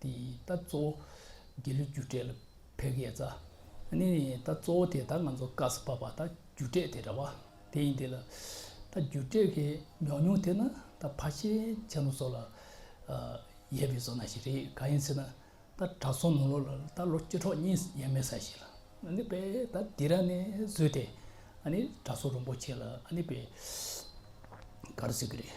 དེ་ལྟ་གཙོ་བོ་རྒྱལ་གླུའི་རྒྱུ་འབྲས་ལ་བོད་སྐད་རྩ་ནི་ནི་ལྟ་གཙོ་བོ་དེ་ད་ང་ཚོ་སྐབས་སུ་བབས་པ་ད་རྒྱུ་འབྲས་དེ་འདྲ་བ་དེ་ཡིན་དེ་ལ་ད་རྒྱུ་འབྲས་ཀྱི་ཉོག་ཉོག་དེ་ན་ད་ཕ་ཆེ་ཆེ་ནོ་སོགས་ལ་ཡས་པའི་བཟོ་ན་ཞིག་རེད་གང་ཡིན་ཟེར་ན་ད་གྲྭ་བཙུན་ནོ་ལོ་ལ་ད་ལོ་བཅུ་ཕྲག་གཉིས་ཡས་མས་ས་ཞིག་ལ་ནི་པའི་ད་དེ་ར་ནི་བཟོས་དེ་ནི་གྲྭ་བཙུན་རིན་པོ་ཆེ་ལ་ནི་པའི་ག་རེ་ཟེར་གི་རེད།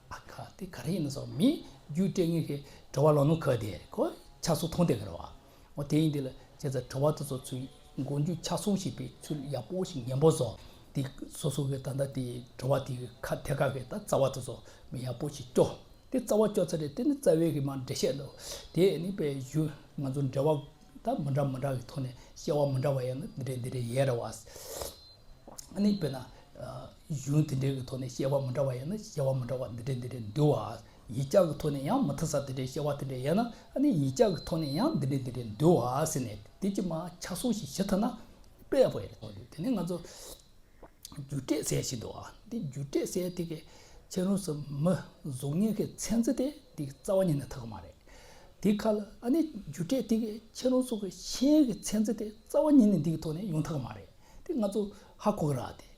ཨ་ཁ་དེ་ག་རེ་ཡིན་ན་སོགས་མི་རྒྱུད་སྤྲད་ངེས་ཤེས་བྲོ་བ་ལོ་ནུ་ཁ་དེ་ཁོ་ཆགས་སུ་མཐོང་སྟེ་ཁར་བ་འོ་དེ་ཡིན་དེ་ལ་བྱས་ཚ་བྲོ་བ་དེ་ཚོ་ཚུར་མགོ་མཇུག་ཆ་སོང་ཤིག་པའི་ཚུལ་ཡག་པོ་ཞིག་ཉན་པོ་ཟོ་དེ་སོ་སོ་གི་ད་ལྟ་དེ་བྲོ་བ་དེ་གི་ཁ་དེ་ག་གི་ད་རྩ་བ་དེ་ཚོ་མི་ཡག་པོ་ཞིག་སྐྱོ་དེ་རྩ་བ་སྐྱོ་ཚ་དེ་དེ་ནི་རྩ་བའི་གི་མ་འབྲེལ་བཤད་དོ་དེ་ནི་པའི་གཞུ་ང་ཚོ་འབྲེལ་བ་ད་མི་འདྲ་མི་འདྲ་གི་ཐོག་ནས་བཤད་བ་མི་འདྲ་བ་ཡང་ན་འདི་རེད་འདི་རེད་ཡས་ར་བ་ཨ་ནི་པས་ན། གཞུང་དེ་འདྲའི་གི་ཐོག་ནས་བཤད་པ་མི་འདྲ་བ་ཡོད་ན་བཤད་པ་མི་འདྲ་བ་འདི་འདྲའི་འདི་འདྲའི་འདུལ་བ། ཡིག་ཆ་གི་ཐོག་ནས་ཡང་མི་མཐུན་ས་དེ་འདྲའི་བཤད་པ་དེ་འདྲའི་ཡོད་ན་ནི་ཡིག་ཆ་གི་ཐོག་ནས་ཡང་འདི་འདྲའི་འདི་འདྲའི་འདུལ་བ་ཟེར་ནས་དེ་ཅི་མ་ཆ་སོང་ཞིག་བྱེད་ཐུབ་ན་དཔེ་དཔེ་རེད་མཐོང་དུས་དེ་ནས་ང་ཚོ་རྒྱུ་འབྲས་ཟེར་བཞིན་འདུག་འདི་རྒྱུ་འབྲས་ཟེར་དེ་གི་ཕྱི་རོལ་སུ་མི་གཟུགས་བརྙན་གི་ཚན་རྩི་དེ་འདི་གི་རྩ་བ་ཉིད་ནས་ཐུག་གི་མ་རེད། དེ་ཁ་ལ་ཨ་ནི་རྒྱུ་འབྲས་དེ་གི་ཕྱི་རོལ་སུ་གི་ཤན་གི་ཚན་རྩི་དེ་རྩ་བ་ཉིད་ནས་འདི་གི་ཐོག་ནས་ཡོང་ཐུག་གི་མ་རེད་དེ་ང་ཚོ་ཧ་གོ་གི་ར་དེ།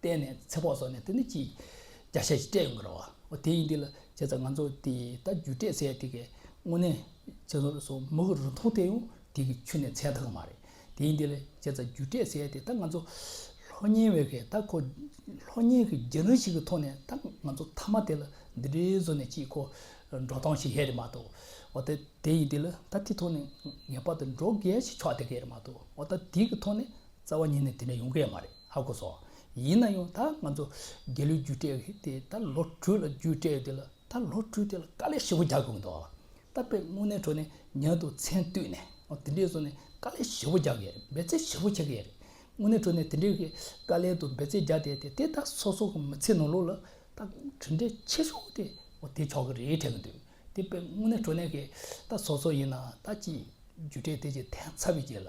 བརྟེན་ནས་ཚེ་ཕོག་སོགས་ནས་དེ་འདི་ཅིག་བརྒྱ་ཞེ་ཅིག་སྤྲད་ཡོང་གི་རེད་བ། འོ་དེ་ཡིན་འདི་ལ་བྱས་ཙང་ང་ཚོ་དེ་ད་རྒྱུ་སྤྲད་ཚད་དེ་གའི་དངོས་གནས་བྱས་ཙང་རུ་སོང་མུ་གུ་རུ་མཐོང་དེ་ཡང་དེ་གི་ཆུ་ནས་ཚད་མཐོ་གི་མ་རེད། དེ་ཡིན་འདི་ལ་བྱས་ཙང་རྒྱུ་སྤྲད་ཚད་དེ་ད་ང་ཚོ་ལྷོ་གཉན་བས་གས་ད་ཁོ་ལྷོ་གཉན་གི་རྒྱུ་ནོར་ཞིག་གི་ཐོག་ནས་ད་ང་ཚོ་མཐའ་མ་དེ་ལ་འདི་འདྲའི་བཟོ་ནས་ཅིག་ཁོ་འགྲོ་སྟངས་ཤིག་ཧེ་རེད་མ་གཏོགས་འོ་ད་དེ་ཡིན་འདི་ལ་ད་དེ་ཐོག་ནས་ངེས་པར་དུ་འགྲོ་གས་ཤིག་ཆོག་དེ་གའི་རེད་མ་གཏོགས་འོ་ད་དེ་གི་ཐོག་ནས། རྩ་བ་ཉིད་ནས་དེ་འདྲ་ཡོང་གི་མ་རེད་ཧ་གོ་སོང། ཡིན་ན་ཡང་ད་ང་ཚོ་རྒྱལ་ལོའི་རྒྱུ་སྤྲད་ཡོད་དེ་ད་ལོ་དྲུག་ལ་རྒྱུ་སྤྲད་ཡོད་དེ་ལ་ད་ལོ་དྲུག་དེ་ལ་དཀའ་ལས་ཧྲིལ་བོ་རྒྱག་དགོས་འདུག་ད་དཔེ་དངོས་གནས་ཁྲོད་ནས་ཉན་འདུག་མཚན་བསྟུད་ནས་དེ་འདྲའི་བཟོ་ནས་དཀའ་ལས་ཧྲིལ་བོ་རྒྱག་གི་རེད་འབད་བརྩོན་ཧྲིལ་བོ་བྱེད་ཀྱི་ཡོད་རེད། དངོས་གནས་ཁྲོད་ནས་དེ་འདྲའི་གི་དཀའ་ལས་དུ་འབད་བརྩོན་རྒྱག་བསྡད་དེ་དེ་ད་སོ་སོ་གི་མི་ཚེའི་ནང་ལོག་ལ་ད་གྲུབ་འབྲས་ཆེ་ཤོས་དེ་དེ་ཆོག་གི་རེད་དྲན་གི་འདུག་དེ་དཔེ་དངོས་གནས་ཁྲོད་ནས་གི་ད་སོ་སོ་ཡིན་ན་ད་ཅིག་རྒྱུ་སྤྲད་དེ་ཅིག་ཐེངས་ཚབ་ཡོད་ཅིག་ལ་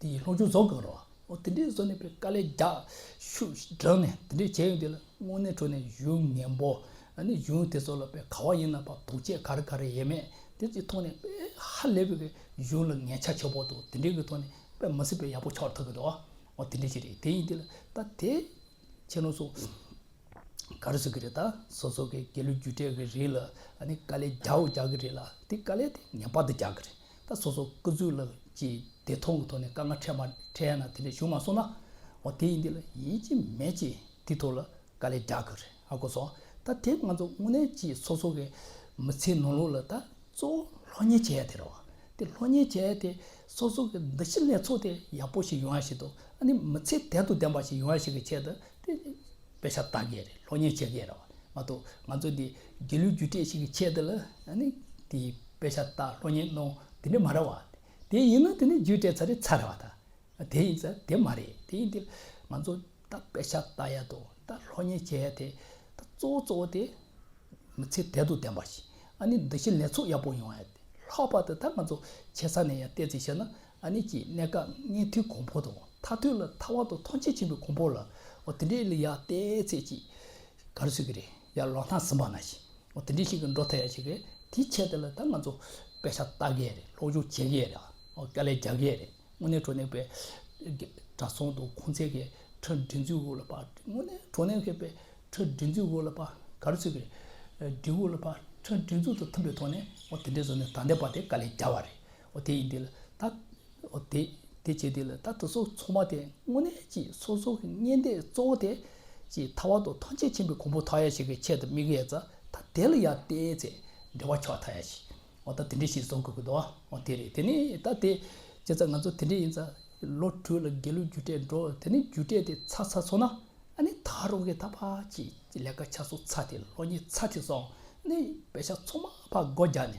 དེ་ཡི་ལྷོ་ཆུ་རྫོགས་ཀྱི་རོ། འོ་དེ་འདྲའི་བཟོ་ནས་པའི་དཀའ་ལས་རྒྱག། ཤུགས་ཤིག་བསྒྲགས་ནས་དེ་འདྲས་བྱས་ཡོང་དེ་ལ་དངོས་གནས་ཁྲོ་ནས་གཞུང་ངན་པོ། ནི་གཞུང་དེ་ཚོ་ལ་པའི་ག་བ་ཡིན་ན་པ་དོགས་བཅས་ག་རེ་ག་རེ་ཡེ་མེད་དེ་ཚོའི་ཐོག་ནས་པའི་ཧ་ལས་པའི་གཞུང་ལ་ངན་ཆ་ཆེ་པོ་འདུག་དེ་འདྲའི་གི་ཐོག་ནས་པའི་མི་སྲིད་པའི་ཡག་པོ་ཆགས་ཐུབ་གི་འདུག་འོ་དེ་འདྲས་ཅི་རེད་དེ་ཡིན་དེ་ལ་ད་དེ་ཁྱེད་རང་ཚོ་ག་རེ་བཟོ་གི་རེད་ད་སོ་སོ་གའི་རྒྱལ་གླུ་རྒྱུ་འབྲས་གི་རིགས་ལ་ནི་དཀའ་ལས་རྒྱག་རྒྱག་གི་རེད་ལ་དེ་དཀའ་ལས་དེ་ངན་པ་དེ་རྒྱག་གི་རེད་ད་སོ་སོ་སྐུ་ཚུལ་ལ་ཅི་བདེ་མཐོང་གི་ཐོག་ནས་དཀའ་ངལ་འཕྲད་མ་འཕྲད་ན་དེ་འདྲས་བྱུང་མ་སོང་ན་འོ་དེ་ཡིན་འདི་ལ་ཡིན་ཅི་མེད་ཅེས་དེའི་ཐོག་ལ་དཀའ་ལས་རྒྱག་གི་རེད་ཨ་གོ་སོ་ད་དེ་ང་ཚོ་དངོས་གནས་ཀྱིས་སོ་སོ་གའི་མི་ཚེའི་ནང་ལོགས་ལ་ད་གཙོ་བོ་ལྷོད་གཉེར་བྱེད་ཡ་དེ་རེད་བ་དེ་ལྷོད་གཉེར་བྱེད་ཡ་དེ་སོ་སོ་གའི་འདུ་ཤེས་ལེགས་ཚོགས་དེ་ཡག་པོ་ཞིག་ཡོང་ཡ་ཞིག་དང་ཨ་ནི་མི་ཚེ་དལ་དུ་ལྡན་པ་ཞིག་ཡོང་ཡ་ཞིག་གི་ཆེད་དུ་དེ་དཔེ་ཆ་བལྟ་མཁན་རེད་སློབ་གཉེར་བྱེད་མཁན་རེད་མ་གཏོགས་ང་ཚོ་འདི་དགེ་ལུགས་རྒྱུ་འབྲས་ཤིག་གི་ཆེད་དུ་ལ་ནི་དེ་དཔེ་ཆ་བལྟ་སློབ་གཉེར་གནོང་དེ་འདྲ་མ་རེད་བ། དེ་ཡིན་ན་དེ་ནི་རྒྱུ་འབྲས་ཚ་རེ་ཚ་རེད་བ་དང། དེ་ཡིན་ཚ་དེ་མ་རེད་དེ་ཡིན་དེ། ང་ཚོ་ད་དཔེ་ཆ་བལྟ་ཡ་དང་ད་སློབ་གཉེར་བྱེད་ཡ་དེ་ད་གཙོ་བོ་གཙོ་བོ་དེ། མི་ཚེ་དལ་དུ་ལྡན་པ་ཞིག་ཨ་ནི་འདི་བཞིན་ལེགས་ཚོགས་ཡག་པོ་ཡོང་ཡ་དེ་ལྷག་པར་དུ་ད་ང་ཚོ་ཆེ་ས་ནས་ཡང་བལྟས་ཚེ་ཤེས་ན་ཨ་ནེ་ཀྱིས་གནད་འགག་སྙན་ཐོའི་གོང་འཕོ་དང་ཐ་ཐོས་ལ་ཐ་བ་དང་མཐོང་ཆེན་ཆེན་པོའི་གོང་འཕོ་ལ་འོ་དེ་འདྲའི་ལི་ཡ་ཏའི་ཚད་ཅིག་ག་རེ་ཟོས་ཀྱི་རེད་ཡར་ལོག་ན་ཟིན་པ་ན་ཞིག་འོ་དེ་འདྲའི་ཞིག་གི་འགྲོ་ཐལ་ཡ་ཞིག་གི་དེའི་ཆེད་དེ་ལ་ད་ང་ཚོ་དཔེ་ཆ་ལྟ་གི་རེད་ལྷོག་ཆོག་བྱེད་གི་རེད་དཀའ་ལས་རྒྱག་གི་རེད་དངོས་གནས་གྲོ་ནས་པའི་གྲ་ཚོང་དང་ཁོང་ཚད་ཀྱི་ཁྲི་འབྲི་འཛུལ་དབུ་ལ་པ་དངོས་གནས་གྲོ་ནས་ཁེ་པའི་ཁྲི་འབྲི་འཛུལ་དབུ་ལ་པ་ག་རེ་ཟོས་ཀྱི་རེད་འབྲི་དབུ་ལ་པ་ཁྲི་འབྲི་འཛུལ་དང་མཐུན་པའི་ཐོག་ནས་འོ་དེ་འདྲའི་བཟོ་ནས་ད་འདས་པ་དེ་དཀའ་ལས་རྒྱག་བ་རེད་དེ་ཡིན་འདི་ལ་ད། དེ་དེ་བྱེད་འདི་ལ་ད་དེ་སོགས་ཚོགས་མ་དེ་དངོས་གནས་ཀྱི་སོ་སོ་བསྙེན་བཟླས་གཙོ་བོ་དེ། ཅེས་མཐའ་བར་དུ་ཐམས་ཅད་མཁྱེན་པའི་གོང་བུ་མཐའ་ཡས་ཞིག་གི་ཆེད་དུ་དམིགས་ཡས་རྩ་ད་དེ་ལ་ཡར་བསྟན་ཚེ་འབྲེལ་བ་ཆོག་མཐའ་ཡས་ཞིག་ད་དེ་འདྲས་ཞིག་བཟོ་དགོས་ཀྱི་འདུག་དེ་རེད་དེ་ནས་ད་དེ་བྱས་ཚ་ང་ཚོ་དེ་འདྲས་ཡིན་ཚ་ལོ་དྲུག་ལ་དགེ་ལུགས་རྒྱུ་འབྲས་འགྲོ་དེ་ནས་རྒྱུ་འབྲས་དེ་ཚ་ཚ་ཚོ་ན་ཨ་ནི་ད་རུང་གི་ད་ཕ་ཅིག་ལས་ཀ་ཆ་སོ་ཚ་དེ་ལོ་གཉིས་ཚ་དེ་སོང་ནས་བེ་ཤ་ཚོ་མ་ཕ་སྒོ་རྒྱག་ནས་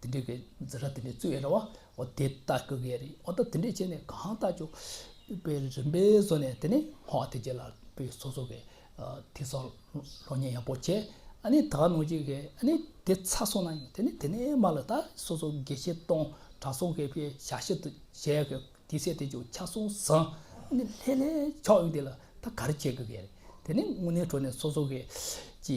དེ་འདྲའི་གི་འཛིན་གྲྭ་དེ་འདྲའི་བཙུགས་ཡོད་རེད་བ། འོ་དེ་ལྟ་དགོས་གི་ཡོད་རེད། འོ་ད་དེ་འདྲའི་བྱས་ནས་གང་ལྟ་ཅོག་དཔེ་རིན་པའི་བཟོ་ནས་དེ་ནི་ཧོ་དེ་རྗེས་ལ་དཔེ་སོ་སོ་གི་དེ་སོག་སློ་ཉན་ཡག་པོ་བྱས། ཨ་ནི་ད་ནོ་ཅིག་གི་ཨ་ནི་དེ་ཚ་སོང་ན་དེ་ནི་དེ་ནས་མ་ལ་ད་སོ་སོ་དགེ་བཤེས་སྟོང་གྲ་སོག་གི་དཔེ་ཞག་བཞི་དུ་བྱས་ཡག་གི་དེ་ཚེ་དེ་ཅོག་ཆ་སོང་ཟིན་ཨ་ནི་ལྷས་ལྷས་ཆོག་ཡོད་དེ་ལ་ད་ག་རེ་བྱས་དགོས་གི་ཡོད་རེད་དེ་ནི་དངོས་གནས་གྲོ་ནས་སོ་སོ་གི་ཅི།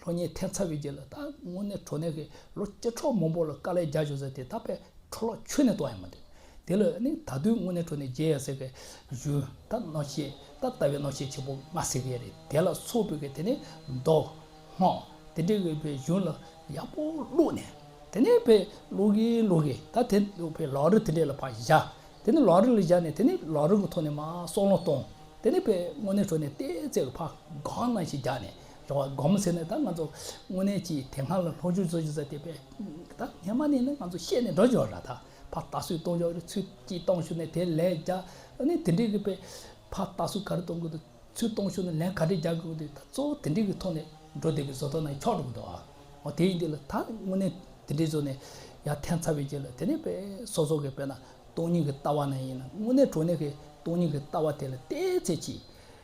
ལྷོ་གཉིས་ཐེབས་ཚར་བའི་རྗེས་ལ་ད་དངོས་གནས་གྲོ་ནས་ཀྱིས་ལོ་བཅུ་ཕྲག་མང་པོ་ལ་དཀའ་ལས་རྒྱག་བཞིན་ཟེར་དེ་ད་པའི་ཁྲོ་ལོག་ཆུ་ནས་ལྟོགས་ཡ་མ་འདུག་དེ་ལ་ནི་ད་དུས་དངོས་གནས་གྲོ་ནས་རྒྱས་ཡ་ཟེར་གི་གཞུང་ད་གནོད་བྱེད་ད་ལྟ་བའི་གནོད་བྱེད་ཆེན་པོ་ང་ཟེར་གི་རེད་དེ་ལ་སོགས་པོ་གི་དེ་ནི་མདོག་སྔགས་དེ་འདྲ་གི་པའི་གཞུང་ལ་ཡག་པོ་བླུགས་ནས་དེ་ནས་པའི་བླུགས་གི་བླུགས་གི་ད་དེ་འདུག་པའི་ལག་རིལ་དེ་འདྲ་ལ་ཕར་བཞག་དེ་ནི་ལག་རིལ་ལ་བཞག་ནས་དེ་ནི་ལག་རིལ་གི་ཐོག་ནས་མ་སྲོག་ལོང་གཏོང་དེ་ནི་པའི་དངོས་གནས་གྲོ་ནས་བལྟས་ཚད་ཀྱི་ཕར་སྒང་ན་ཞིག་རྒྱག་ནས་སྦྱོར་བ་སྒོམ་ཟེར་ནས་ད་ང་ཚོ་དངོས་གནས་ཀྱིས་དེ་སྔ་ལ་ལྷོ་ཆུ་རྫོགས་ཆུ་ས་དེ་བས་ད་ངེས་མ་ནས་ནི་ང་ཚོ་ཤེས་ནས་འགྲོ་ཆོག་ར་ད་ཕ་རྟགས་སུས་གཏོང་ཆོག་རེད་ཚུལ་གྱིས་གཏོང་ཞུ་ནས་དེ་ལས་རྒྱ་ནི་དེ་འདྲི་གི་པས་ཕ་རྟགས་སུ་ག་རེ་གཏོང་དགོས་འདུག་ཚུལ་གཏོང་ཞུ་ནས་ལན་ག་རེ་རྒྱག་དགོས་འདུག་ད་གཙོ་བོ་དེ་འདྲི་གི་ཐོག་ནས་འགྲོ་བསྡད་པའི་བཟོ་ལྟ་ན་ཁྱོག་འགྲོ་གི་འདུག་ཨ་དེ་ཡིན་དུས་ལ་ད་དངོས་གནས་དེ་འདྲི་བཟོ་ནས་ཡ་ཐན་ཚ་བའི་རྗེས་ལ་དེ་ནས་པས་སོ་སོ་གི་པས་ན་སྟོང་ཉིད་ཀྱི་ལྟ་བ་ན་ཡིན་ན་དངོས་གནས་གྲོ་ནས་གི་སྟོང་ཉིད་ཀྱི་ལྟ་བ་དེ་ལ་བལྟས་ཚེ་ཅི།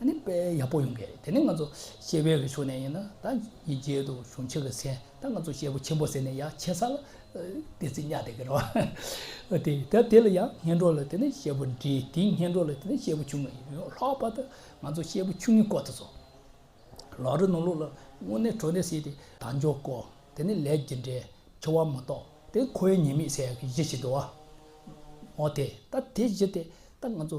ཨ་ནི་དཔེ་ཡག་པོ་ཡོང་གི་རེད་དེ་ནས་ང་ཚོ་ཤེས་དཔལ་གྱི་ཕྱོགས་ནས་ཡིན་ན་ད་ཉིན་རྗེས་དུ་གཞུང་ཕྱོགས་ཀྱི་སེམས་ད་ང་ཚོ་ཤེས་པོ་ཆེན་པོ་ཟེར་ནས་ཡང་ཆེ་ས་ལ་བདེ་ཚིག་གཉའ་བདེ་གི་རོ་དེ་ད་དེ་ལ་ཡང་སྙན་སྒྲོག་ལ་དེ་ནས་ཤེས་པོ་འདྲི་དེ་སྙན་སྒྲོག་ལ་དེ་ནས་ཤེས་པོ་ཆུང་ངུ་ཡོང་ལྷག་པར་དུ་ང་ཚོ་ཤེས་པོ་ཆུང་ངུའི་སྐོར་དུ་སོང་ལག་རི་ནོར་ལུག་ལ་དངོས་གནས་བྲོ་ནས་བསྲེས་ཏེ་ད་འཇོག་གོ་དེ་ནས་ལས་ཀྱི་འབྲས་འཆོལ་བ་མ་གཏོགས་དེ་ཁོའི་ཉེས་དམིགས་ཟེར་གྱི་གཞི་ཞིག་འདུག་ཨོ་དེ་ད་དེ་གཞི་དེ་ད་ང་ཚོ་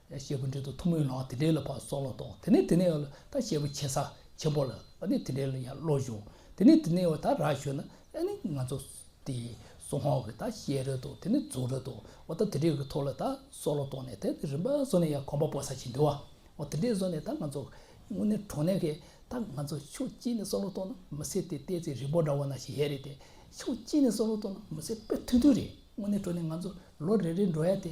བཤད་པོ་འདྲེ་དང་ཐུགས་མོས་ལགས་དེ་འདྲེ་ལ་ཕར་སོགས་ལ་དོགས་དེ་ནས་དེ་ནས་ད་བཤད་པོ་ཆེ་ས་ཆེན་པོ་ལ་ནས་དེ་འདྲེ་ལ་ཡར་ལོག་བཞུགས་དེ་ནས་དེ་ནས་ད་རག་ཞུས་ན་ཨེ་ནི་ང་ཚོ་དེ་སོ་ཧོང་གི་ད་བཤད་རེད་དོ་དེ་ནས་རྫོགས་རེད་དོ་འོ་ད་དེ་འདྲེ་གི་ཐུགས་ལ་ད་སོགས་ལ་དོགས་ནས་དེ་ནས་རིམ་པ་སོ་ནས་ཡར་གོམ་པ་པོ་ས་ཆེན་འདི་བ་འོ་དེ་འདྲེ་སོ་ནས་ད་ང་ཚོ་དངོས་གནས་གྲོང་ནས་གི་ད་ང་ཚོ་ཕྱོགས་གཅིག་ནས་སོགས་ལ་དོགས་ན་མི་སེར་དེ་ལྟས་ཚེ་རིང་པོ་འདྲ་བ་ན་ཞིག་ཡས་རེད་དེ་ཕྱོགས་གཅིག་ནས་སོགས་ལ་དོགས་ན་མི་སེར་དཔེ་ཐུང་ཐུང་རེད་དངོས་གནས་གྲོང་ནས་ང་ཚོ་ལོ་རེ་རེ་འགྲོ་ཡ་དེ་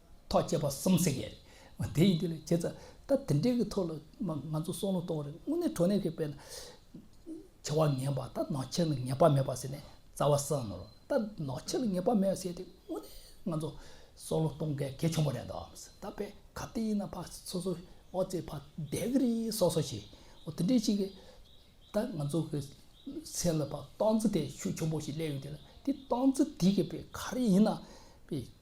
ཐོག་བཅད་པ་གསུམ་བསྲེག་ཡས་རེད་མ་དེ་ཡིན་དུས་ལས་བྱེད་ཚ་ད་དེ་འདྲའི་གི་ཐོག་ལ་ང་ཚོ་སྲོག་ལོ་གཏོང་རེད་དངོས་གནས་གྲོ་ནས་གི་དཔེ་ན་བྱ་བ་ངན་པ་ད་ནག་ཁྱེར་ལ་ངེས་པ་མེད་པ་ཟེར་ནས་རྩ་བ་བསྲང་ནོར་ད་ནག་ཁྱེར་ལ་ངེས་པ་མེད་ཟེར་ཏེ་དངོས་གནས་ང་ཚོ་སྲོག་ལོ་གཏོང་གལ་གལ་ཆེན་པོ་རེད་འདོག་ཨམ་ཟེར་ད་དཔེ་ག་དེ་ཡིན་ན་ཕག་སོ་སོ་ཨོ་ཙེ་ཕག་བསྡད་གི་རེད་སོ་སོ་ཞིག་ཨོ་དེ་འདྲའི་ཞིག་གི་ད་ང་ཚོ་གི་སེམས་ལ་ཕག་སྟོང་རྩི་དེ་ཤུགས་ཆེན་པོ་ཞིག་སླེབས་ཡོད་དུས་ལ་དེ་སྟོང་རྩི་དེ་གི་དཔེ་ག་རེ་ཡིན་ན་དཔེ།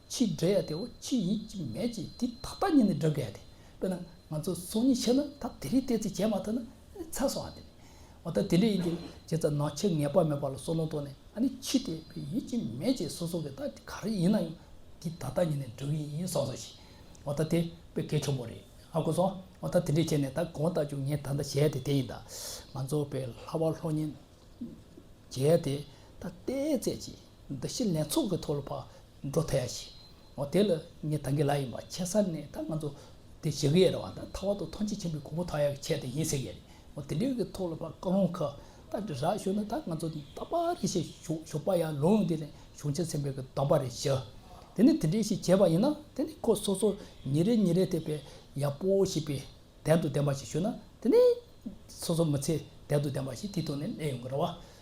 ཕྱིས་བསྒྲལ་ཡས་དེའོ་ཕྱིས་ཡིན་གཅིག་མེད་ཅིག་དེ་ད་ལྟ་ཉིད་ནས་བསྒྲུབ་དགོས་ཡས་དེ་དཔེར་ན་ང་ཚོ་ཚོགས་གཉིས་ཕྱེ་ན་ད་དེ་རིགས་གཏད་ཚིག་བྱས་མ་ཐུབ་ན་ཨ་ནི་ཚ་སོང་ཨ་དེ་ནས་འོ་ད་དེ་འདྲ་ཡིན་དེ་རྗེས་ཚ་ནག་ཆེ་ངེས་པ་མེད་པ་ལ་སོ་ལོང་ཏོག་ནས་ཨ་ནི་ཕྱིས་དེ་བས་ཡིན་གཅིག་མེད་ཅིག་སོ་སོ་གི་ད་དེ་ག་རེ་ཡིན་ན་ཡང་དེ་ད་ལྟ་ཉིད་ནས་བསྒྲུབ་ཡས་ཡིན་སོང་སོང་ཞིག་འོ་ད་དེ་བས་གལ་ཆེན་པོ་རེད་ཨ་གོ་སོང་འོ་ད་དེ་འདྲས་བྱས་ནས་ད་གང་ལྟ་བྱུང་ངས་ད་ལྟ་བྱས་ཡས་དེ་དེ་ཡིན་ད་ང་ཚོ་བས་ལྷ་བ་ལྷོ་གཉིས་བྱས་ཡས་དེ་ད་གཏད་ཚེ་ཅིག། འདི་བཞིན་ལན་ཚོགས་ཀྱིས་ཐོག་ལ་བག་འགྲོ་ཐལ་ཡ་ཞིག་ཨོ་དེ་ལ་ངས་ད་གི་ལ་ཡིན་པ་ཁྱེད་སར་ནས་ད་ང་ཚོ་དེ་བྱེད་གི་ཡ་རེད་བ་ད་ཐ་བ་དུ་ཐོན་ཆེ་ཆེན་པོའི་གོ་བོ་ཐག་ཡ་གི་ཆེད་དེ་ཡིན་ཟེར་གི་ཡ་རེད་ཨོ་དེ་འདྲའི་གི་ཐོག་ལ་བག་ཀ་རུང་ཁ་ད་དྲི་རག་ཞུ་ན་ད་ང་ཚོ་ད་པ་རེ་ཞིག་ཞུགས་ཞུགས་པ་ཡ་ལུང་དེ་ནས་ཞུགས་ཆེ་ཆེན་པོའི་གི་དོན་པ་རེ་ཞུ་དེ་ནས་དེ་འདྲའི་ཞིག་བྱས་པ་ཡིན་ན་དེ་ནས་ཁོ་སོ་སོ་ཉིན་རེ་ཉིན་རེ་དེ་བས་ཡ་པོ་ཞིག་པའི་དན་དུ་ལྡན་པ་ཞིག་ཞུ་ན་དེ་ནས་སོ་སོ་མི་ཚེ་དན་དུ་ལྡན་པ་ཞིག་དེ་ཐོག་ནས་གནས་ཡོང་གི་རེད་བ།